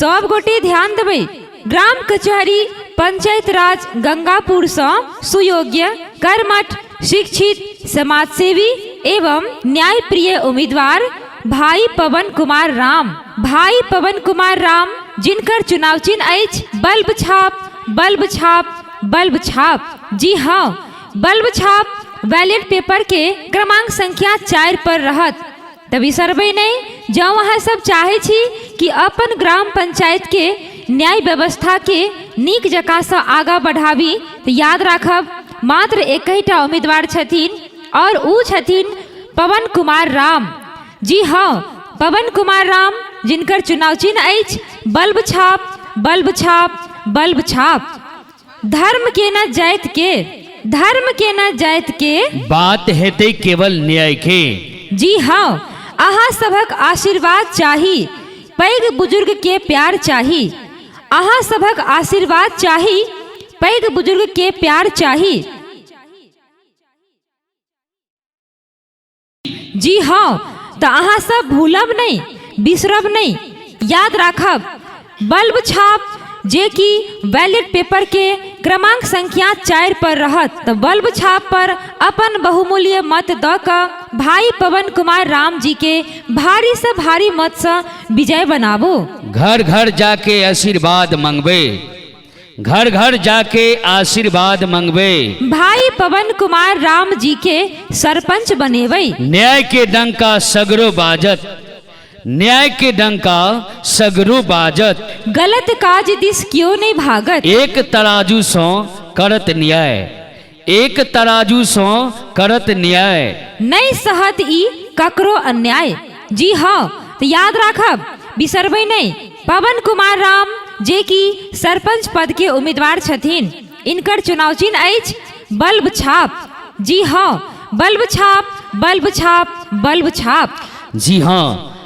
सब गोटे ध्यान देबै ग्राम कचहरी पंचायत राज गंगापुर से सुयोग्य कर्मठ शिक्षित समाजसेवी एवं न्यायप्रिय उम्मीदवार भाई पवन कुमार राम भाई पवन कुमार राम जिनकर चुनाव चिन्ह अछि बल्ब छाप बल्ब छाप बल्ब छाप जी हाँ बल्ब छाप बैलेट पेपर के क्रमांक संख्या चारि पर रहत तऽ बिसरबै नहि जँ अहाँ सब चाहै छी कि अपन ग्राम पंचायत के न्याय व्यवस्था के नीक जकाँ सँ आगाँ बढ़ाबी तऽ याद राखब मात्र एकहिटा उम्मीदवार छथिन आओर ओ छथिन पवन कुमार राम जी हँ पवन कुमार राम जिनकर चुनाव चिन्ह अछि बल्ब छाप बल्ब छाप बल्ब छाप धर्म के न जाइत के धर्म के न जाइत के बात हेतै केवल न्याय के जी हँ अहाँ सभक आशीर्वाद चाही पैघ बुजुर्ग के प्यार चाही अहाँ सभक आशीर्वाद चाही पैघ बुजुर्ग के प्यार चाही जी हँ तऽ अहाँ सब भूलब नहि बिसरब नहि याद राखब बल्ब छाप जे कि बैलेट पेपर के क्रमांक संख्या चारि पर रहत तऽ बल्ब छाप पर अपन बहुमूल्य मत दऽ कऽ भाई पवन कुमार राम जी के भारी से भारी मत सँ विजय बनाबू घर घर जाके आशीर्वाद मंगबे घर घर जाके आशीर्वाद मंगवे भाई पवन कुमार राम जी के सरपंच बनेवे न्याय के डंका सगरो बाजत न्याय के डंका सगरो बाजत गलत काज दिस क्यों नहीं भागत एक तराजू सो करत न्याय एक तराजू सँ करत न्याय। नहि सहत ई ककरो अन्याय। जी हँ, त याद राखब, बिसरबै नहि, पवन कुमार राम जे कि सरपंच पद के उम्मीदवार छथिन, इनकर चुनाव चिन्ह अछि बल्ब छाप। जी हँ, बल्ब छाप, बल्ब छाप, बल्ब छाप। जी हँ।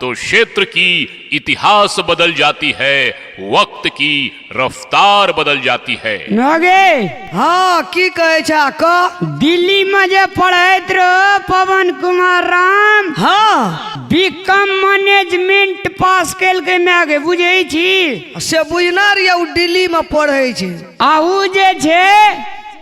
तो क्षेत्र की इतिहास बदल जाती है वक्त की रफ्तार बदल जाती है नगे हाँ की कहे छा क दिल्ली में जे पढ़ैत रहो पवन कुमार राम हाँ बीकॉम मैनेजमेंट पास कैल के मैं आगे बुझे छी से बुझना रहिया उ दिल्ली में पढ़े छै आहू जे छे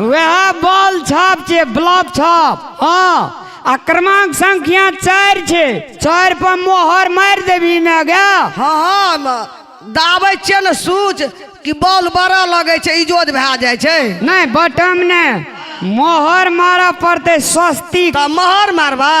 वएह बॉल छाप छै ब्लॉक छाप हँ आ क्रमांक संख्या चारि छै चारि पर मोहर मारि देबी ने गे हँ हँ ने दाबै छियै ने सूच कि बॉल बड़ा लगै छै इजोत भए जाइ छै नहि बटम नहि मोहर मारऽ पड़तै सस्ती तऽ महर मारबा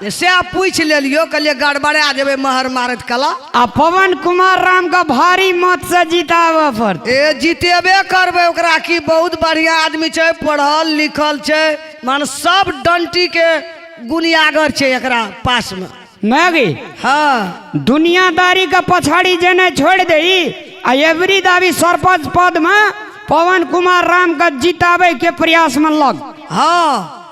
जे सएह पूछि लेलियो कहलिए गड़बड़ा जेबै महर मारत कला आ पवन कुमार राम के भारी मत से जिताबऽ पड़तै ए जीतेबे करबै ओकरा की बहुत बढ़िया आदमी छै पढ़ल लिखल छै मान सब डंटी के गुनियागर छै एकरा पास में मैगी हाँ दुनियादारी के पछाड़ी जेने छोड़ दही आ एवरी दावी सरपंच पद में पवन कुमार राम के जिताबे के प्रयास में लग हाँ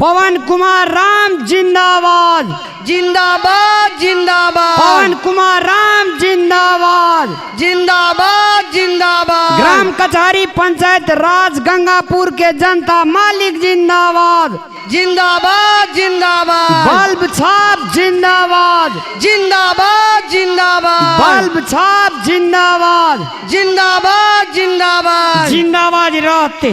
पवन कुमार राम जिंदाबाद जिंदाबाद जिंदाबाद पवन कुमार राम जिंदाबाद जिंदाबाद जिंदाबाद ग्राम कचहरी पंचायत राज गंगापुर के जनता मालिक जिंदाबाद जिंदाबाद जिंदाबाद बल्ब छाप जिंदाबाद जिंदाबाद जिंदाबाद बल्ब छाप जिंदाबाद जिंदाबाद जिंदाबाद जिंदाबाद रहते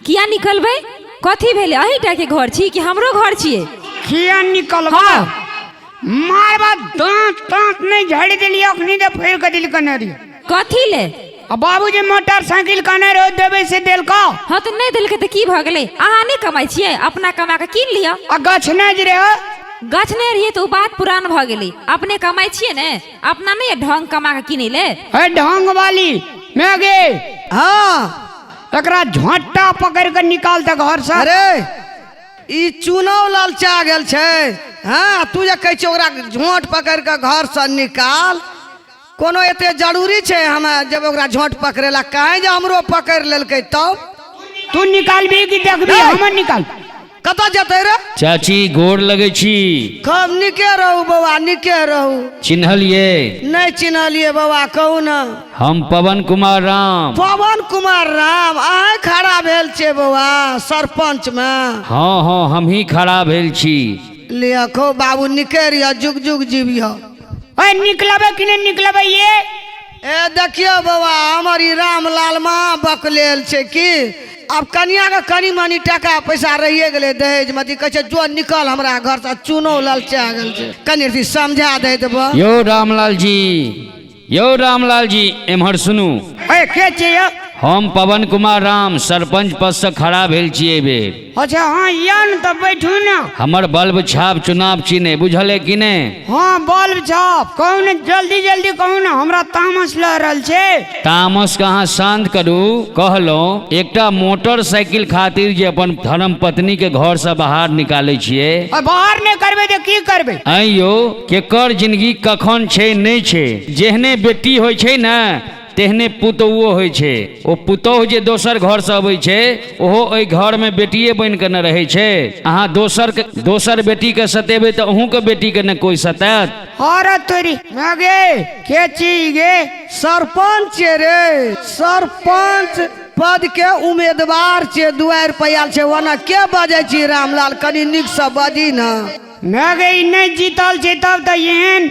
किया निकलबै कथी भेलै अहीटा के घर छी कि हमरो घर छियै किया निकलबा हाँ। मारबा दांत तांत नहीं झड़ दिली अखनी दे फेर के दिल कने रही कथी ले अब बाबूजी मोटरसाइकिल कने रहो देवे से दिल का हाँ तो नहीं देलकै तऽ की भऽ गेलै अहाँ नहि कमाइ छियै अपना कमा कऽ कीन लिअ आ गछ नहीं जे रहे गछ नहि रहियै तऽ ओ बात पुरान भऽ गेलै अपने कमाइ छियै ने अपना नहि ढंग कमा कऽ किनै ले है ढंग वाली मैं गे हाँ एकरा झोंटा पकड़ के निकाल दे घर से अरे ई चुनाव लालचा गेल छै हाँ तू जे कहै छै ओकरा झोंट पकड़ के घर से निकाल कोनो एते जरूरी छै हम जब ओकरा झोंट पकड़े ला कहें जे हमरो पकड़ लेलकै तब तू निकालबी कि देखबी नहीं। हमर निकाल कतऽ जेतै रे चाची गोर लगै छी खूब नीके रहू बौआ नीके रहू चिन्हलिए नहि चिन्हलिए बौआ कहू ने हम पवन कुमार राम पवन कुमार राम अहें खड़ा भेल छियै बौआ सरपंच मे हँ हँ हमही खड़ा भेल छी लिअ खो बाबू नीके रहिअ जुग जुग जीबिअ ओए निकलबै कि नहि निकलबै ये ए देखियो बाबा हमर ई रामलाल महा बकलेल छै की अब कनिया के कनी मनी टाका पैसा रहिए गेलै दहेज में अथी कहै छै जो निकल हमरा घर से चूनो ललचा गेल छै कनी अथी समझा दे देबो यो रामलाल जी यो रामलाल जी एम्हर सुनू ए के छियै हम पवन कुमार राम सरपंच पद से खड़ा भेल छियै एहि बेर अच्छा हाँ या ने तो बैठू ना हमर बल्ब छाप चुनाव चिन्ह है, बुझल है कि नहीं हाँ बल्ब छाप कहू ने जल्दी जल्दी कहू ने हमरा तामस लऽ रहल छै तामस के अहाँ शांत करू कहलहुँ एकटा मोटरसाइकिल खातिर जे अपन धर्म पत्नी के घर से बाहर निकाले छिए आ बाहर नहि करबै तऽ की करबै ऐं यौ केकर जिंदगी कखन छै नहि छै जेहने बेटी होइ छै ने तेहने पुतौओ होइ छै ओ पुतौह जे दोसर घरसँ अबै छै ओहो ओहि घरमे बेटिए बनि कऽ ने रहै छै अहाँ दोसर दोसर बेटीके सतेबै तऽ अहूँके बेटीके ने कोइ सतायत अरे तोरी मगे के छी गे सरपंच रे सरपंच पद के उम्मीदवार छे दुआर पर आयल छे ओना के बजे छी रामलाल कनी नीक से बजी ना मगे ई नहीं जीतल छै तब तऽ एहन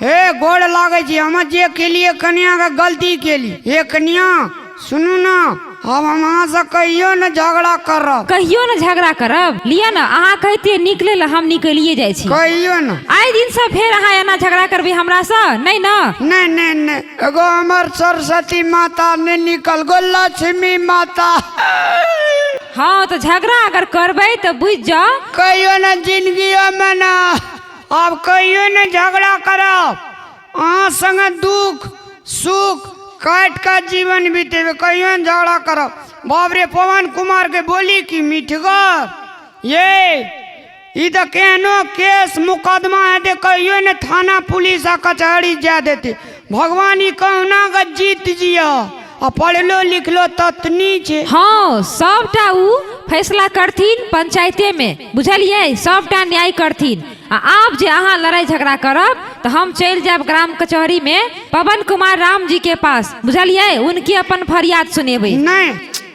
हे गोड़ लागै छी हम जे केलिए कनिया के गलती केली हे कनिया सुनू ना हम अहाँ से कहियो ने झगड़ा करब कहियो ने झगड़ा करब लिअ ने अहाँ कहतियै निकले लए हम निकलिए जाइ छी कहियो ने आइ दिन से फेर अहाँ एना झगड़ा करबै हमरा से नहि ने नहीं नहीं नहीं एगो हमर सरस्वती माता ने निकल गो लक्ष्मी माता हँ तऽ झगड़ा अगर करबै तऽ बुझि जाउ कहियो ने जिंदगी में ना आब कहियो नहि झगड़ा करब अहाँ संगे दुख सुख काटि कऽ जीवन बितेबै कहियो नहि झगड़ा करब बाप रे पवन कुमार के बोली की मिठगर ये ई तऽ केहनो केस मुकदमा हेतै कहियो नहि थाना पुलिस आ कचहरी जाय देतै भगवान ई कहुना के जीत जियो आ पढ़लो लिखलो ततनी छै हाँ सबटा उ फैसला करथिन पंचायते में बुझलियै सबटा न्याय करथिन आ आब जे अहाँ लड़ाई झगड़ा करब तो हम चलि जायब ग्राम कचहरी में पवन कुमार राम जी के पास बुझलियै उनके अपन फरियाद सुनेबै नहि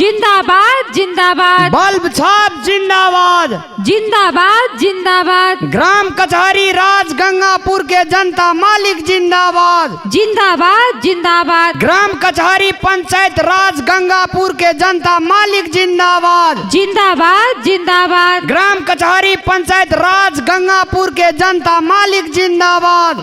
जिंदाबाद जिंदाबाद बल्ब छाप जिंदाबाद जिंदाबाद जिंदाबाद ग्राम कचहरी राज गंगापुर के जनता मालिक जिंदाबाद जिंदाबाद जिंदाबाद ग्राम कचहरी पंचायत राज गंगापुर के जनता मालिक जिंदाबाद जिंदाबाद जिंदाबाद ग्राम कचहरी पंचायत राज गंगापुर के जनता मालिक जिंदाबाद